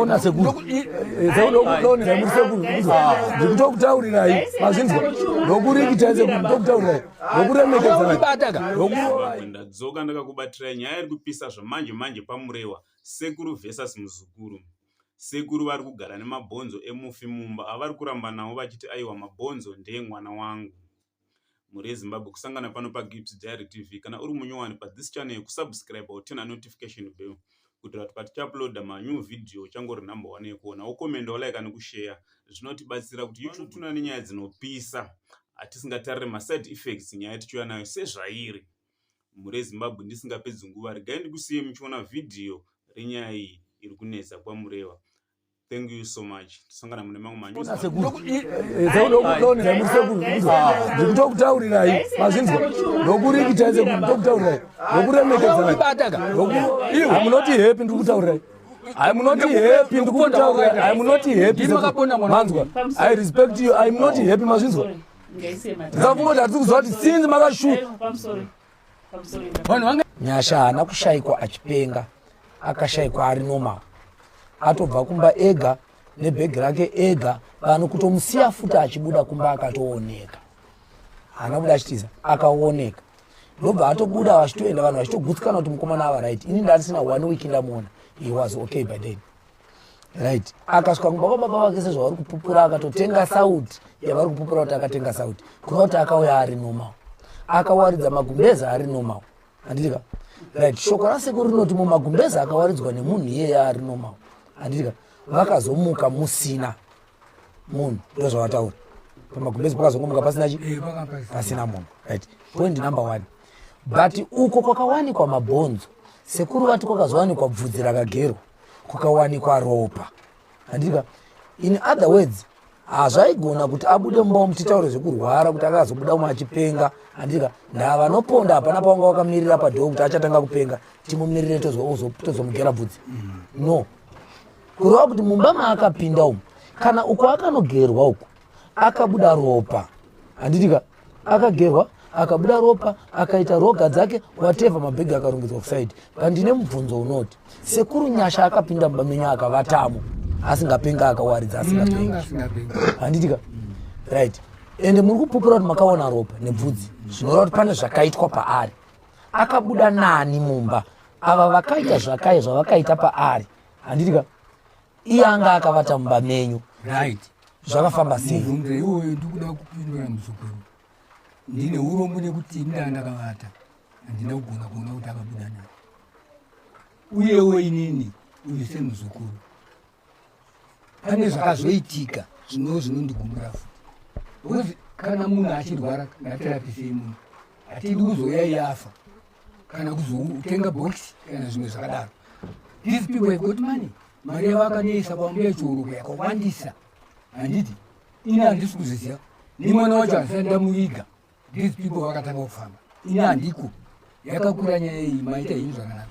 ona sekuru ndikutokutaurirai mazvinzwa ndokurikita sekuru ndokutaurirai ndokuremekedzandadzoka ndakakubatirai nyaya iri kupisa zvamanje manje pamurewa sekuru versus muzukuru sekuru vari kugara nemabhonzo emufi mumba avari kuramba navo vachiti aiwa mabhonzo ndeye mwana wangu mhuri yezimbabwe kusangana pano pagips diary tv kana uri munyowani pathis channel kusubscribe or turn a notification bell kuitira kuti patichauploada manew video uchangori number one yekuona wokomenda wolaika nekusheya zvinotibatsira kuti youtube tuna nenyaya dzinopisa hatisingatarire maside effects nyaya tichiuya nayo sezvairi mhuri yezimbabwe ndisingapedzi nguva regai ndikusiye muchiona vhidhiyo renyaya iyi iri kunetsa kwamureva Thank you so much. Tisangana mune mamwe manyu. Sasa ndokutaurirai mazvinzwa ndokurikita ze ndokutaurirai ndokuremekedzai hamunoti happy ndikutaurirai I'm not happy ndikutaurirai I'm not happy manzwa I respect you I'm not happy mazvinzwa ndakafungoti hatisi kuziva kuti since makashu nyasha haana kushaikwa achipenga akashaikwa ari normal atobva kumba ega nebhegi rake ega vanhu kutomusiya futi achibuda kumba akatooneka haana kuda achitiza akaoneka ndobva atobuda vachitoenda vanhu vachitogutsikana kuti mukomana ava right ini ndandisina one week ndamuona he was okay by then right akasvika kumba kwababa vake sezvavari kupupura akatotenga sauti yavari kupupura kuti akatenga sauti kureva kuti akauya ari normal akawaridza magumbeza ari normal handitika right shoko rasekuru rinoti mumagumbeza akawaridzwa nemunhu iyeye ari normal handitika vakazomuka musina munhu ndo zvavataura pamagumbezi pakazongomuka pasina chi eh, pasina munhu right point number one but uko kwakawanikwa mabhonzo sekuru vati kwakazowanikwa bvudzi rakagerwa kukawanikwa ropa handika in other words hazvaigona kuti abude mumba umu titaure zvekurwara kuti akazobuda umwe achipenga handika ndaa vanoponda hapana pawanga wakamirira padhoo kuti achatanga kupenga timumirire tozomugera bvudzi no kureva kuti mumba maakapinda umu kana uko akanogerwa uku akabuda ropa handitika akagerwa akabuda ropa akaita roga dzake wateva mabhegi akarongedzwa kusaidi pandine mubvunzo unoti sekuru nyasha akapinda muba menyu akavatamo asingapenga akawaridza asingapenga handitika right ende muri kupupura kuti makaona ropa nebvudzi zvinoreva kuti pane zvakaitwa paari akabuda nani mumba ava vakaita zvakaye zvavakaita paari handitika iye anga akavata mumba menyu right zvakafamba sei mubvunzo iwoyo ndikuda kupindura muzukuru ndine urombo nekuti ndaa ndakavata handina kugona kuona kuti akabuda nayo uyewo inini uyu semuzukuru pane zvakazoitika zvino zvinondigumura futi bcause kana munhu achirwara ngatirapisei munhu hatidi kuzouya iye afa kana kuzotenga bhokisi kana zvimwe zvakadaro these people have got money mari yavakanisa kwambuya chiuruko yakawandisa handiti ini handisi kuziziva nemwana wacho handisati ndamuviga these people vakatanga kufamba ini handiko yakakura nyaya iyi maita ini zvakanaka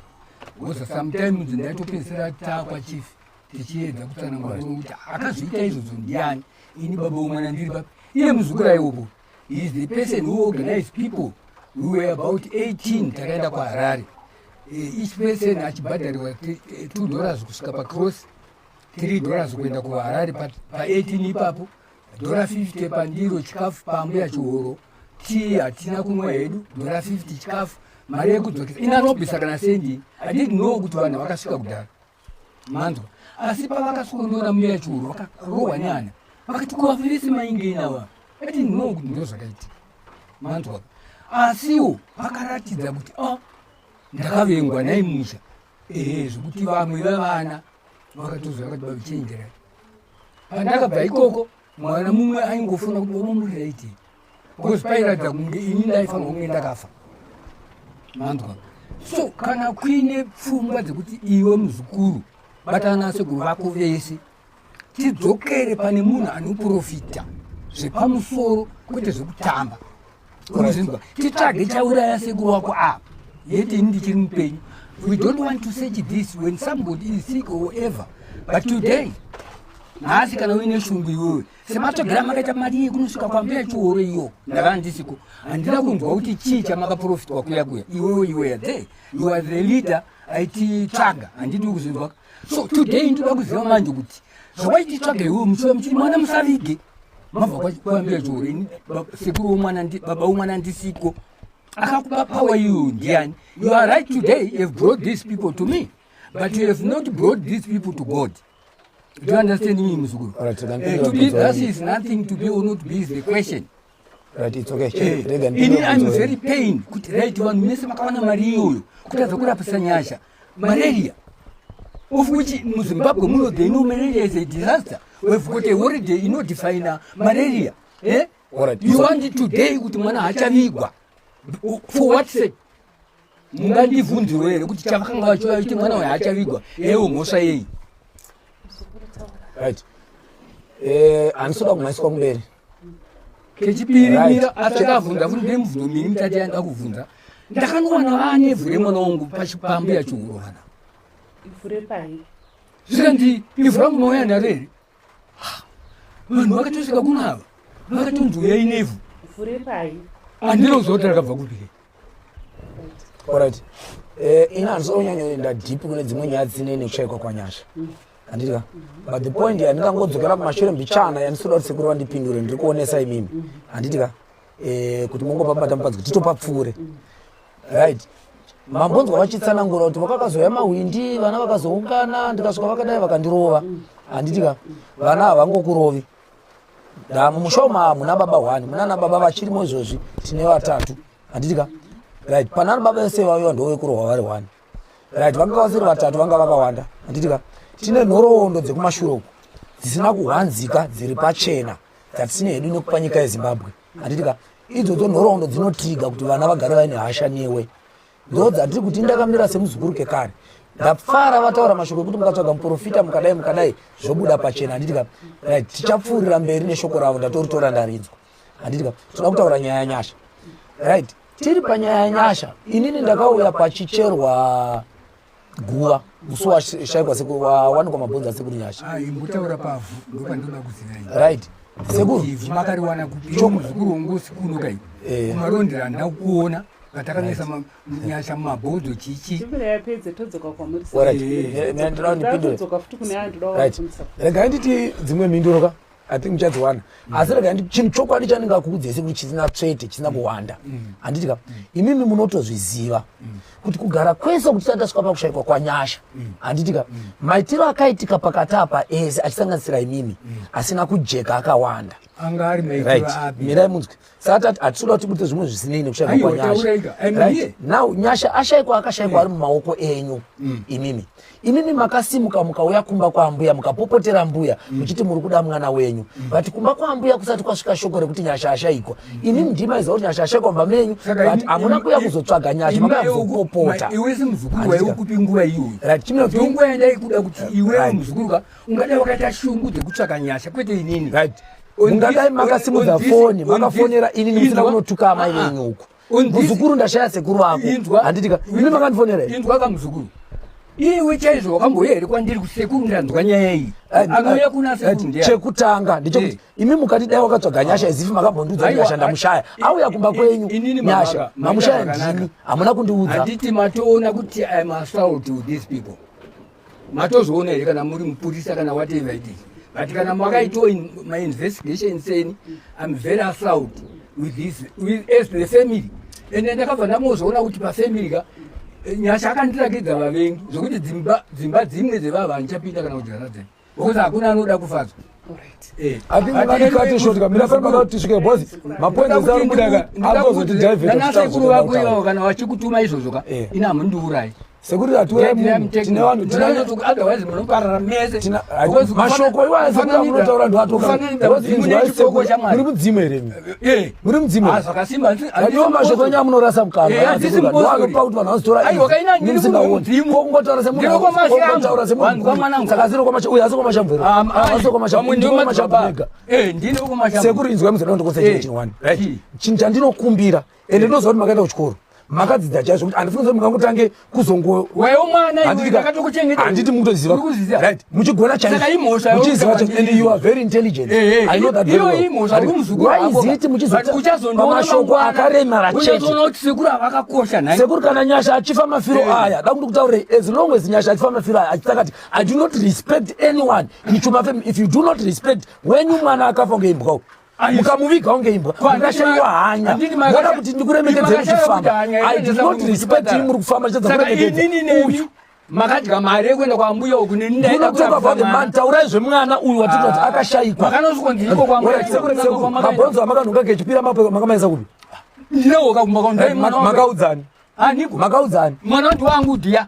bcause sometimes ndaitopedzisira takwa chief tichiedza kutsanangura kuti akazviita izvozvo ndiani ini baba wemwana ndiri papi iye muzukura iwopo He is the person who organized people. We were about 18 takaenda kuHarare. Eh, each person achibhadharirwa 2 eh, dollars kusvika pacross 3 dollars kuenda kuharare pa18 ipapo dhora 50 pandiro chikafu pambuya chihoro tii hatina kumwa hedu dhora 50 chikafu mari yekudzokesa inarobisa kana sendi adidnoo kuti vanhu vakasvika kudhara manzwa asi pavakaswonora muya churu vakarohwa nyana vakati kuvafirisi maingeinawa ati no kuti ndo zvakaitika manzwa asiwo vakaratidza kuti a ah, ndakavengwa nai musha ee zvekuti vamwe vevana vakatozva vakati vavichenjerai pandakabva ikoko mwana mumwe aingofunga kuti vamamuriraitei because pairatidza kunge ini ndaifanira kunge ndakafa manzwa so kana kuine pfungwa dzekuti iwe muzukuru batana sekuru vako vese tidzokere pane munhu anoprofita zvepamusoro kwete zvekutamba unozinzwa titsvage chauraya sekuru wako apa yeti ini ndichiri mupenyu we don't want to search this when somebody is sick or ever but today nhasi kana uine shungu iwewe sematsvagira makaita mari iyi kunosvika kwambuya chihoro iyo ndava ndisiku handina kunzwa kuti chii chamakaprofitwa kuya kuya iwewo iweya the you are the leader aititsvaga handidi kuzvinzwaka so today ndoda kuziva manje kuti zvawaititsvaga iwe muchiva muchiti mwana musavige mabva kwambuya chihoro ini sekuru womwana baba womwana ndisiko akakupa power iyoyo ndiani you are right today you have brought these people to me but you have not brought these people to god Do you understand me, Muzukuru? All right, so eh, to be thus is nothing to be or not be is the question. Right, it's okay. Hey, eh, rega ndini I'm very pain kuti right vanhu mese makawana mari iyoyo kutadza kurapisa nyasha malaria of which in Zimbabwe muno they know malaria is a disaster. We've got a holiday you know define uh, malaria. Eh? All right. You so, want it today kuti mwana hachavigwa. For what sake? mungandivhunziwo here kuti chavakanga vachiuya vachiti mwana uyo haachavigwa ewo mhosva yeyi right eh andisoda kumaiswa kumberi kechipiri mira atakavhunza futi nemubvundo miri mutati yanda kuvhunza ndakanowana vaane vhu remwana wangu pachipambu yachihurovana zvikanzi ivhu rangu noyana rere vanhu vakatosvika kuno ava vakatonzi uyai nevhu handina kuziva kuti rakabva kupi orit eh, ini handiso unyanyoenda deep kune dzimwe nyaya dzine nekushaikwa kwanyasha handiti ka but the point handingangodzokera kumashure mbichana yandisikuda kuti sekuru vandipindure ndiri kuonesa imimi handiti ka eh, kuti mongopa matambadzo kuti topapfuure right mambonzwa vachitsanangura kuti vakakazouya mahwindi vana vakazoungana ndikasvika vakadai vakandirova handiti ka vana havangokurovi mumusha umu hamuna baba hwani munana baba vachirimo izvozvi tine vatatu handiti ka right panana baba vese vaiva ndovekurohwa vari hwani right vanga vasiri vatatu vanga vakawanda handiti ka tine nhoroondo dzekumashure uku dzisina kuhwanzika dziri pachena dzatisine hedu nekupa nyika yezimbabwe handiti ka idzodzo nhoroondo dzinotiga kuti vana vagare vaine hasha newe ndo dzatiri kuti ndakamira semuzukuru kekare ndapfara vataura mashoko ekuti mukatsvaga muprofita mukadai mukadai zvobuda pachena handiti ka right tichapfuurira mberi neshoko ravo ndatoritora ndaridzwa handiti ka toda kutaura nyaya yanyasha right tiri panyaya yanyasha inini ndakauya pachicherwa guva musi washaikwa sekuru wawanikwa mabhonzo asekuru nyasha ah, imbutaura pavhu ndopandoda kuziva right sekuru makariwana kupiomuzukuru wongosi kuno kai eh. kumarondera ndakuona patakanoisa nyasha mumabhodho chichiregai nditi dzimwe mhinduro ka i think muchadziwana mm. asi rega chinhu chokwadi chandingakuudzese kuti chisina tsvete chisina kuwanda mm. Mm. handiti ka imimi munotozviziva kuti kugara kwese kuti tati tasvika pakushaikwa kwanyasha handiti ka maitiro akaitika pakati apa ese achisanganisira imimi asina kujeka akawanda mirai munzwi satati hatitoda kuti mute zvimwe zvisinei nekushayikwa kwanyasha right? now nyasha ashayikwa akashayikwa mm. ari mumaoko enyu mm. imimi imimi makasimuka mukauya kumba kwaambuya mukapopotera mbuya mm. muchiti muri kuda mwana wenyu mm. but kumba kwaambuya kusati kwasvika shoko rekuti nyasha ashayikwa mm. imimi ndimaiziva kuti nyasha ashayikwa mumba menyu but hamuna kuya kuzotsvaga nyasha makazopopota iwe semuzukuru waiukupi nguva iyoyo right chimwe kuti nguva yandaikuda kuti iwe muzukuru ka ungadai wakaita shungu dzekutsvaka nyasha kwete inini right ungadai makasimudza foni makafonera ini ndimusina kunotuka amai ah, ah. venyu uku muzukuru ndashaya sekuru vako handitika ini makandifonera inzwa kamuzukuru iwe chaizvo wakambouya here kwandiri kusekuru ndanzwa nyaya iyi anouya kuna sekuru chekutanga ndichokuti eh. imi mukati dai wakatsvaga nyasha izifi makambondiudza nyasha ndamushaya auya kumba kwenyu nyasha mamushaya ndimi hamuna kundiudza handiti matoona kuti iam assault with these people matozviona here kana muri mupurisa kana watei vaidii but kana makaitawo mainvestigation seni im very assault with this with, as the family ende ndakabva ndamozviona kuti pafamily ka eh, nyasha akandirakidza vavengi zvokuti dzimba dzimba dzimwe dzevava handichapinda kana kudyanadzai Because hakuna anoda kufadzwa. Eh, kana vachikutuma izvozvo ka eh. ini hamundiurayi sekuti hatiwetine vanhu mashoko iwayaotaura ndiwatokauri mudzimu here Eh, muri mudzimu ah, zvakasimba zvakaoma zvokuenda amunorasa mukanaanopa kuti vanhu vazotoramusingaonikokungotaura semunhutaura semunhusaka zino kwamauyu asi kwamashamvero asi kwamashamvega sekuri inzwa muzana ndokosechinhu chinhu chandinokumbira ende ndinoziva kuti makaenda kuchikoro makadzidza chaizvo kuti handifuni zoti mungangotange kuzongohanditi mukutoziva right muchigona chaizomuchiziva chaizvo and you are very intelligent eh, eh, i know that very well why is it muchizopamashoko akaremara chetesekuru kana nyasha achifa mafiro eh. aya da kuti kutaurei as long as nyasha achifa mafiro aya achita kati i do not respect anyone ichumafe if you do not respect wenyu mwana akafa ngeimbwawo mukamuviga unge imbwa mukashaiwa hanya moda kuti ndikuremekedzei muchifamba i did not respect him muri kufamba chiedza kuremekedza uyu makadya mari yekuenda kwambuya uku neniaman taurai zvemwana uyu watiti kuti ah. akashaikwa mabhonzo amakanhuka kechipira makamaisa kupi ndinowoka kumba kwamukaudzani ah, makaudzani mwana wati wangu dhiya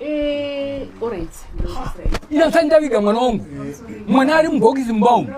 Eh, ndaviga mwana wangu mwana ari mubhokisi mumba umu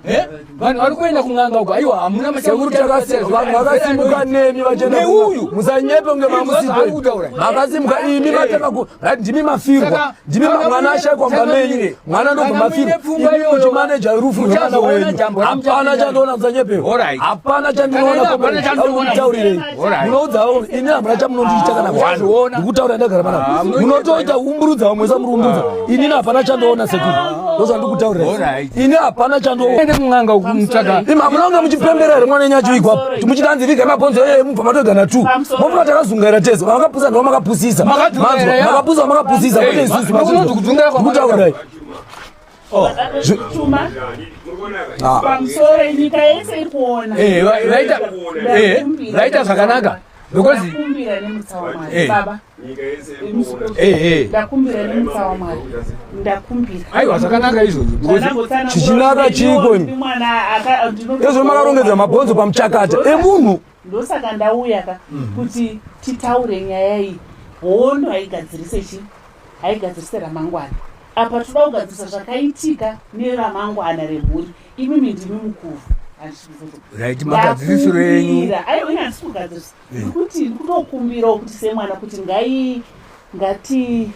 eh? vanhu vari kuenda kun'anga uko aiwa hamuna machaurutakasevanhu vakasimuka nemi vacheeuyu musanyepe kunge mamusipemakasimka imi eh. mataka ndimi mafirwa ndimi mwana ashaikwa mumba menyu mwana ndobva mafiro imuchi manager rufu mwana wenyu hapana chandiona musanyepewo hapana chandinoonaaaurirei munoudzawo ini hamuna chamunondiita kana kuona ndikutaura ndagara mana ah, munotoita umburudza vamwe samurumburudza ah. inini hapana chandiona sekuru ah. ndozvandikutaurira ini hapana chandiona munanga muchipembera here mwana enyu achiwigwapo muchitanzi vigai mabhonzo eye mubva matoga na two mofuma takazungaira tese makapusa ndiwo makapusisa makapusa makapusisa kwete isusu makutaurai oh. ah. eh, vaita eh, zvakanaka because eh. ndakumbira nemutsa wamwari ndakumbira aiwa zvakanaka izvozvo chichinaka chiiko ezvo makarongedza mabhonzo pamuchakata emunhu ndosaka ndauya ka mhm. kuti titaure nyaya iyi hondo haigadzirise chi haigadzirise ramangwana apa toda kugadzirisa zvakaitika neramangwana remhuri imimi ndimi mukuru right magadzirisiro enyu aiwa inyatsikugadziriswa kuti ndikutokumbirawo kuti semwana kuti ngai ngati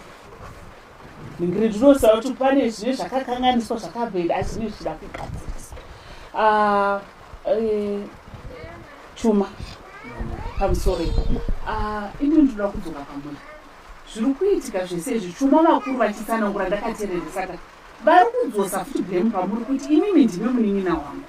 ndingiri ndinoziva kuti pane zvine zvakakanganiswa zvakabhenda asi zvine zvichida kugadzirisa ah, eh, chuma pamusoro ipo ah, ini ndinoda kudzoka pamuna zviri kuitika zvese izvi chuma vakuru vachitsanangura ndakatereresa ka vari kudzosa futi blame pamuri kuti imimi ndime munin'ina wangu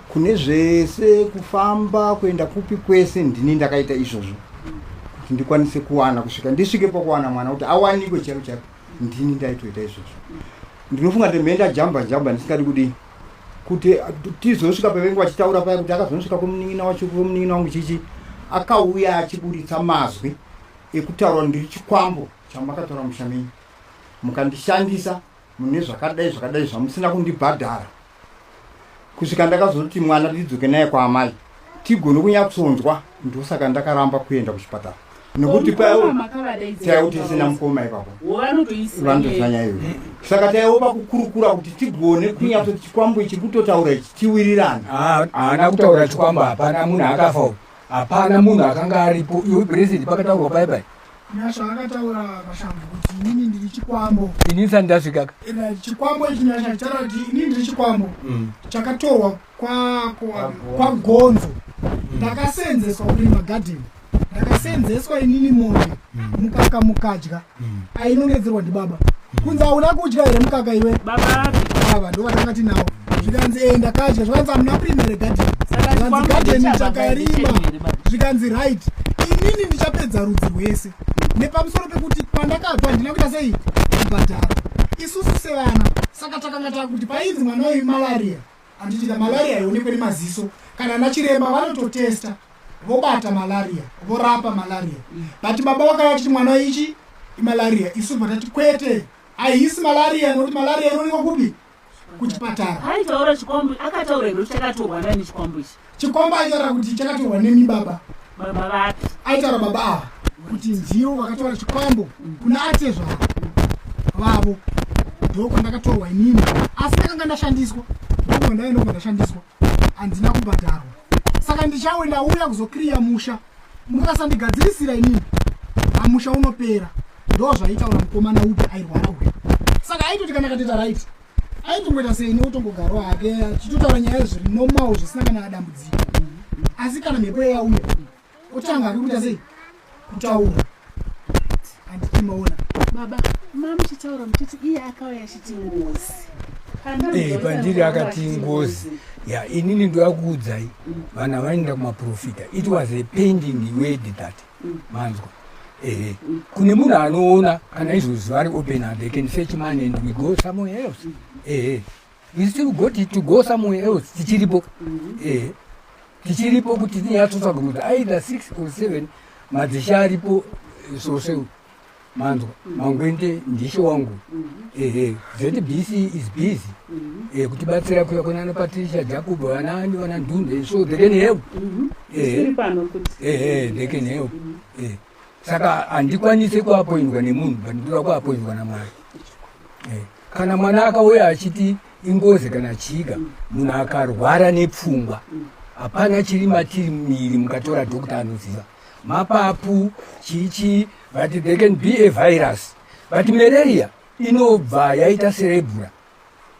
kune zvese kufamba kuenda kupi kwese ndini ndakaita izvozvo kuti ndikwanise kuwana kusvika ndisvike pakuwana mwana kuti awanikwe chaivo chaivo ndini ndaitoita izvozvo ndinofunga kuti mhenda jamba jamba ndisingadi kudii kuti tizosvika pavenge vachitaura paya kuti akazonosvika kumunin'ina wacho kumunin'ina wangu chichi akauya achiburitsa mazwi ekutaura ndiri chikwambo chamakataura mushamenyi mukandishandisa mune zvakadai zvakadai zvamusina kundibhadhara kusvika ndakazoti mwana ndidzoke naye kwaamai tigone kunyatsonzwa ndosaka ndakaramba kuenda kuchipatara nekuti payaiwo tisina mukoma ipapo vanotozanya ivo saka taiwo pakukurukura kuti tigone kunyatso chikwambo ichi kutotaura ichi tiwirirane haana kutaura chikwambo hapana munhu akafa hapana munhu akanga aripo iwe present pakataurwa pai pai nyasha akataura mashambo kuti inini ndiri chikwambo ini ndisati ndasvikaka Ina chikwambo ichi nyasha chitaura kuti inini ndiri chikwambo Mm. chakatorwa kwa- kwa- kwagonzo ndakaseenzeswa kurima gadheni ndakaseenzeswa inini mombe mukaka mukadya mm. ainongedzerwa ndibaba mm. kunzi hauna kudya here mukaka iwe baba ava ndo vatanga tinawo zvikanzi enda kadya zvikanzi amuna primary garden zvikanzi garden takarima zvikanzi right inini ndichapedza rudzi rwese nepamusoro pekuti pandakabva handina kuita sei kubhadhara isusu sevana saka takanga takuti painzi mwana uyu malaria Handiti the malaria haionekwe nemaziso kana ana chiremba vanototesta vobata malaria vorapa malaria mm. but baba vakava chiti mwana ichi imalaria isu bva tati kwete haisi malaria nokuti malaria inoonekwa kupi kuchipatara aitaura chikwambo akataura hiro chakatorwa nani chikwambo ichi Chikomba aitaura kuti chakatorwa nemi baba. Baba vake. Aitaura baba ava kuti ndivo vakatora chikwambo kuna atezva vavo ndoko ndakatorwa inini asi ndakanga ndashandiswa ndokubva ndave ndokubva ndashandiswa handina kubhadharwa saka ndichawe ndauya kuzokriya musha mukasandigadzirisira inini amusha unopera ndo zvaitaura mukomana upi airwara uya saka aitoti kana kateta raiti aitongoita seine otongogarwa hake achitotaura nyaya zviri normal zvisina kana adambudziko asi kana mhepo yeyauya otanga hake kuita sei kutaura handiti maona baba ma muchitaura muchiti iye akauya achiti ngozi eh, pandiri akati ngozi ya inini ndoyakuudzai vana vanoenda kumaprofita it was a pending word that manzwa ehe kune munhu anoona kana izvozvi vari open and they can search man and we go somewhere else ehe we still got it to go somewhere else tichiripo ehe tichiripo kuti tinyatsotsvaga kuti either six or seven madzisha aripo soseu manzwa mangwende ndishi wangu ehe zbc is busy eh, kutibatsira kuya kuna ana patricia jacob vana ani vana ndunde so they can help ehe ehe they can help eh saka handikwanise kuapoindwa nemunhu but ndoda kuapoindwa namwari eh, kana mwana akauya achiti ingozi kana chiga munhu akarwara nepfungwa hapana chiri matiri miri mukatora dhokta anoziva mapapu chichi but they can be a virus but malaria inobva yaita serebura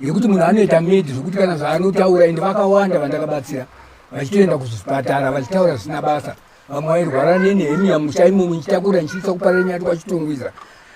yekuti munhu anoita medi zvekuti kana zvaanotaura ende vakawanda vandakabatsira vachitoenda kuzvipatara vachitaura zvisina basa vamwe vairwara nenehemiya musha imo muchitakura ndichiisa kuparira nyati kwachitongwiza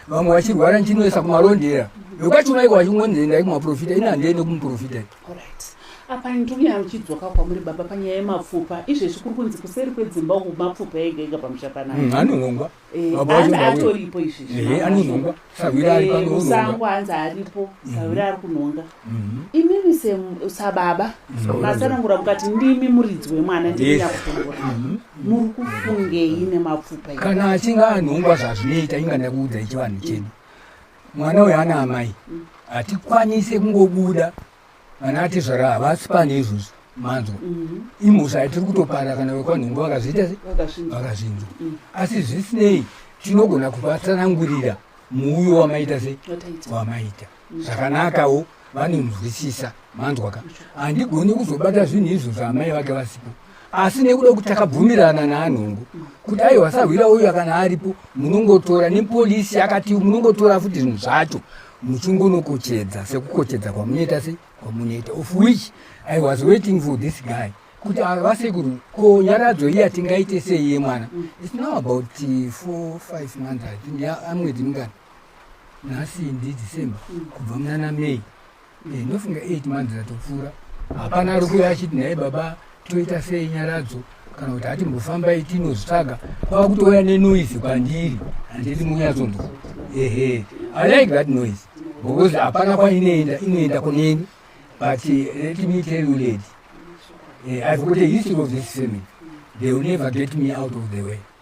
vamwe vachirwara ndichinoisa kumarondera yokwachona iko vachingonzi endai kumaprofita ini handiende kumuprofita Alright. Apa ndouya ndichidzoka kwamuri baba panyaya yemapfupa. Izvezvi kuri kunzi kuseri kwedzimba uku mapfupa ega ega pamusha panapa. Mm, anonongwa. Eh, Baba hanzi vacho ndauya. atoripo izvezvi. Eh, anonongwa. Sahwira ari pano ononga. Musango hanzi aripo. Sahwira ari kunonga. Mhm. Imimi sem- sababa masanangura mukati ndimi muridzi wemwana ndimi Yes. nyakutongora. Muri kufungei nemapfupa ega? Kana achinge anongwa zvazvinoita inga ndakuudza ichivanhu chedu. mwana uyo ana amai hatikwanise kungobuda vana atezvara havasi pane izvozvo manzwa mhm. imhosva yatiri kutopara kana vekwanhungu vakazviita se vakazvinzwa mhm. asi zvisinei tinogona kuvatsanangurira muuyo wamaita se wamaita mhm. zvakanakawo vanonzwisisa manzwaka handigoni kuzobata zvinhu izvo zvaamai vake vasipo asi nekuda kuti takabvumirana naanhongo kuti ayi wasahwira uyu kana aripo munongotora nepolisi akati munongotora futi zvinhu zvacho muchingonokochedza sekukochedza kwamunoita se kwamunoita of which i was waiting for this guy kuti vasekuru ko nyaradzo iya tingaite sei yemwana its now about four five months amwedzi mungani nhasi ndi december kubva munana may eh, ndofunga 8 months atopfuura hapana ari kuuya achiti naye baba toita sei nyaradzo kana kuti ati mbofambai tinozvitsvaga kwava kutouya nenoise kwandiri handiti munyatsonzwa ehe i like that noise because hapana kwainoenda inoenda kuneni but eh, let me tell you lady eh, i've got a history of this family they will never get me out of the way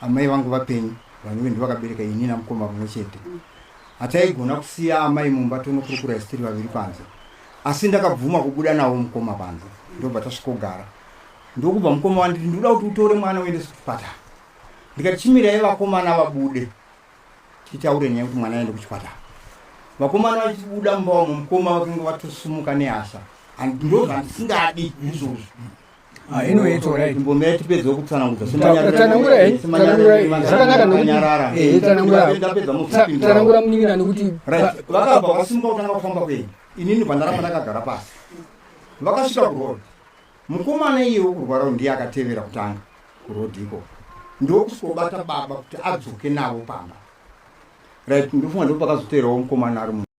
amai vangu vapenyu vanove ndivakabereka ini namukoma mumwe chete hataigona kusiya amai mumba tonokurukura isitiri vaviri panze asi ndakabvuma kubuda navo mukoma panze ndobva tasvikogara ndokubva mukoma wanditi ndikuda kuti utore mwana uende sekuchipatara ndikati chimirai vakomana vabude titaure nyaya kuti mwana aende kuchipatara vakomana vachibuda mumba wamwe mukoma vakange vatosumuka nehasha ndozvandisingadi izvozvo Ah, inowe ito right mbombe yatipedza kutsanangudza tsanangura eh, tsanangura eh, zvakanaka nokutanyarara eh, tsanangura tsanangura munin'ina nekuti vakabva vasimba kutanga kufamba kwenyu inini pandaramba ndakagara pasi vakasvika kurod mukomana iye wekurwara ndiye akatevera kutanga kurod iko ndokusvobata baba kuti adzoke navo pamba right ndofunga ndopakazoteerawo mukomana ari mu